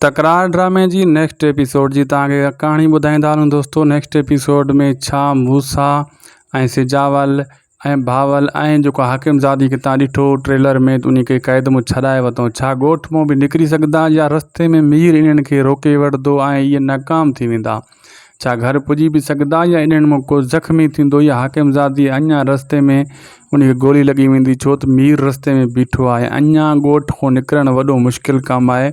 تڪرار ڊرامي جي نيڪسٽ ايپيسوڊ جي توهان کي ڪهاڻي ٻڌائيندا هلون دوستو نيڪسٽ ايپيسوڊ ۾ ڇا موسيٰ ۽ سجاول ۽ بهاول ۽ جيڪو حاڪم زادي کي تان ڏٺو ٽريلر ۾ انهي کي قيد مون ڇڏائي وتو ڇا ڳوٺ مون به نڪري سگهندا يا رستي ۾ مير انهن کي روڪي وٺدو ۽ اهي ناڪام ٿي ويندا ڇا گهر پڄي به سگهندا يا انهن مان ڪو زخمي ٿيندو يا حاڪم زادي اڃا رستي ۾ ان کي گولي لڳي ويندي ڇو ته مير رستي ۾ بيٺو آهي اڃا ڳوٺ کان نڪرڻ وڏو مشڪل ڪم آهي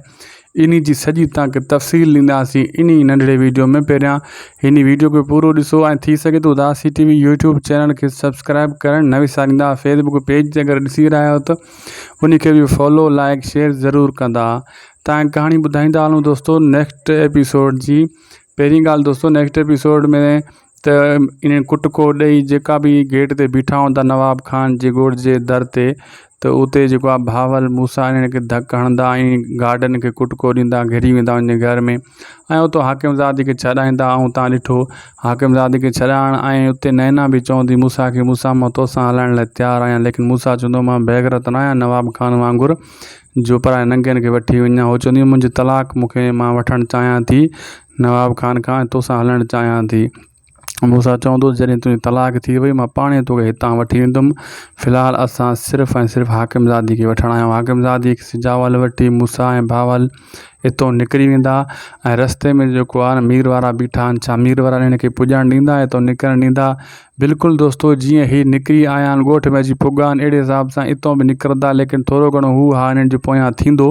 انهي جي سڄي توهان کي تفصيل ڏينداسين انهي ننڍڙي ويڊيو ۾ پهريان هني ويڊيو کي پورو ڏسو ۽ ٿي سگهي ته Udasi TV YouTube channel کي سبسڪرائب ڪرڻ نه وساريندا فيسبوڪ پيج تي اگر ڏسي رهيا آهيو ته انهي کي به فالو لائڪ شيئر ضرور ڪندا تائين ڪهاڻي ٻڌائيندا هلون دوستو نيڪسٽ ايپيسوڊ جي پهرين ڳالهه دوستو نيڪسٽ ايپيسوڊ ۾ ته ان ڪٽڪو ڏئي جيڪا به گيٽ تي بيٺا هوندا نواب خان جي ڳوٺ جي در تي ته اتي جيڪو آ بهاول موسا انهن کي ڌڪ هڻندا ۽ گارڊن کي ڪٽڪو ڏيندا گهري ويندا ان گهر ۾ ۽ اتو حاڪم زادي کي ڇڏائيندا ۽ تان ڏٺو حاڪم زادي کي ڇڏائڻ ۽ اتي نينا به چوندي موسا کي موسا مان توسان هلائڻ لاء تيار آهيان ليڪن موسا چوندو مان بيغرت نه آهيان نواب خان وانگر جو پرائي ننگين کي وٺي وڃان. هوء چوندي هئي، منهنجي طلاق مون کي مان وٺڻ چاهيان ٿي نواب خان کان ۽ تو سان هلڻ چاهيان ٿي. موسيٰ چوندو هو، جڏهن تنهنجي طلاق ٿي وئي، مان پاڻهي توکي هتان وٺي ويندم. في الحال اسان صرف ۽ صرف حاڪمزادي کي وٺڻ آيا آهيون. حاڪمزادي هڪ سجاول وٺي موسيٰ ۽ بهاول. اتو نڪري ويندا ۽ رستي ۾ جيڪو آهي مير وارا بيٺا آهن ڇا مير وارا هن کي پڄڻ ڏيندا اتو نڪرڻ ڏيندا بلڪل دوستو جيئن هي نڪري آيا آهن ڳوٺ ۾ اچي پڳا آهن اهڙي حساب سان اتو به نڪرندا ليڪن ٿورو گهڻو هو ها هنن جي پويان ٿيندو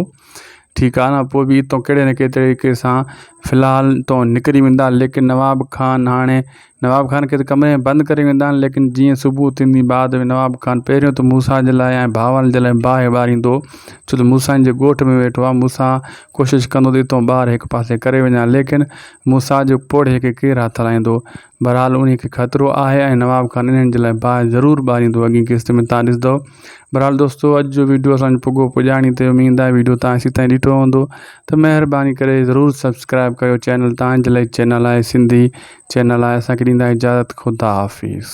ٺيڪ آهي نه پوء به اتو ڪهڙي نه ڪهڙي طريقي سان فلحال اتو نڪري ويندا ليڪن نواب خان هاڻي نواب خان کي ته ڪمري ۾ بند ڪري ويندا آهن، ليڪن جيئن صبح ٿيندي بعد ۾ نواب خان پهريون ته موسيٰ جي لاء ۽ ڀائوارن جي لاء باهه ٻاريندو، ڇو ته موسيٰ جي ڳوٺ ۾ ويٺو آهي، موسيٰ ڪوشش ڪندو ته اتون ٻاهر هڪ پاسي ڪري وڃان، ليڪن موسيٰ جي پوڙهي کي ڪير هٿ هلائيندو؟ بهرحال انهي کي خطرو آهي ۽ نواب خان انهن جي لاء باهه ضرور ٻاريندو، اڳين قسط ۾ توهان ڏسندؤ بھرحال دوستو اڄ جو ويڊيو اسان پڳو پڄاڻي تي اميد آهي ويڊيو تان سي تائين ڏٺو هوندو ته مهرباني ڪري ضرور سبسڪرائب ڪيو چينل تان جلائي چينل آهي سنڌي چينل آهي اسان کي ڏيندا اجازت خدا حافظ